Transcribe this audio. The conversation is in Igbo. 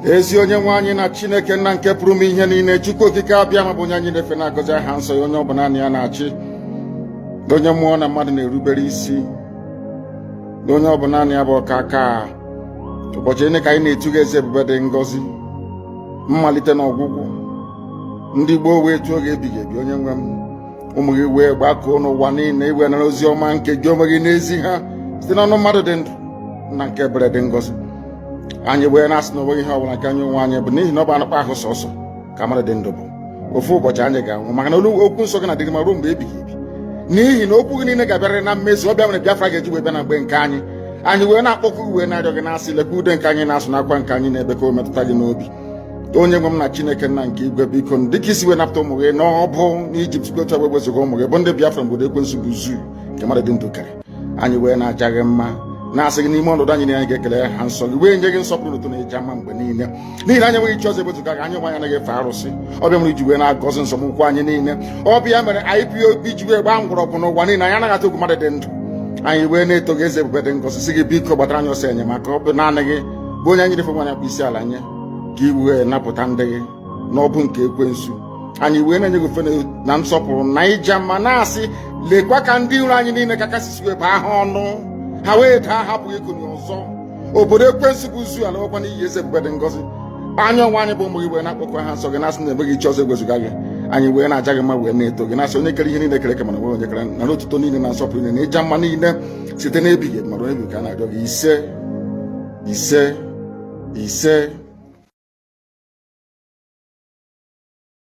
ezi onye nwe anyị na chineke nna nke pụrụ ime ihe niile chukwu okike abiama bụ onye anyị na-efe na-agọzi aha nsọ ya onye ọ bụ naanị ya na-achị onye mmụọ na mmadụ na-erubere isi onye ọ bụ naanị ya bụ ọkaka ụbọchị niile ka anyị na-etu gị eze ebube dị ngọzi mmalite na ọgwụgwụ ndị gboo wee tuo gị ebighị ebi onye nwe m ụmụ gị wee gbakọọ n'ụwa niile i wee nara ozi ọma nke gị onwe gị na-ezi ha site n'ọnụ mmadụ dị ndụ nna nke ebere dị ngọzi anyị wee na-asị na onweghị ihe ọbụla nke anyị onwe anyị bụ n'ihi na ọ bụ anụkpa ahụ sọsọ ka mmadụ dị ndụ bụ ofu ụbọchị anyị ga-anwụ maka na okwu nsọ gị na-adịrị ma ruo mgbe ebighị ebi n'ihi na okwu gị niile ga-abịarịrị na mmezu ọ bụ ya mere Biafra ga-eji wee bịa na mgbe nke anyị anyị wee na-akpọku gị wee na-arịọ gị na-asị lekwa ude nke anyị na-asụ na akwa nke anyị na-ebe ka o metụta gị n'obi onye nwe m na chineke nna nke igwe biko dịka i si wee napụta ụmụ gị n'agbụ n'ijipt otu a ga-ewezuga ụmụ gị bụ ndị biafra n'obodo ekwensu bụ zoo nke mmadụ dị ndụ kere anyị wee na-aja gị mma na-asị gị n'ime ọnọdụ anyị na anyị ga-ekele aha nsọ gị wee nye gị nsọpụrụ otuto na ịja mma mgbe niile n'ihi na anyị enweghị chi ọzọ ebezuga gị anyị onwe anyị anaghị efe arụsị ọ bụ ya mere i ji wee na-agọzi nzọmụkwụ anyị niile ọ bụ ya mere IPOB ji wee gbaa mgbọrọgwụ n'ụwa niile anyị anaghị atụ egwu mmadụ dị ndụ anyị wee na-eto gị eze ebube dị ngọzi sị gị biko gbatara anyị ọsọ enyemaka ọ bụ naanị gị bụ onye anyị na-efe onye anyị na-akpọ isi ala nye ka i wee napụta ndị gị n'agbụ nke ekwensu anyị wee na-enye gị ofe na nsọpụrụ na ịja mma na-asị lekwa ka ndị iro anyị niile ka kasị si wee bụọ ha ọnụ ha wee daa hapụ ikuni ọzọ obodo ekwensu bụ zoo alakwa n'iyi eze ebube dị ngọzi anyị onwe anyị bụ ụmụ gị wee na-akpọku aha nsọ gị na-asị na enweghị chi ọzọ ewezuga gị anyị wee na-aja gị mma wee na-eto gị na-asị onye kere ihe niile kere eke mana enweghị onye kere nara otuto niile na nsọpụrụ niile na ịja mma niile site n'ebighị ma ruo ebi ka a na-arịọ gị ise ise ise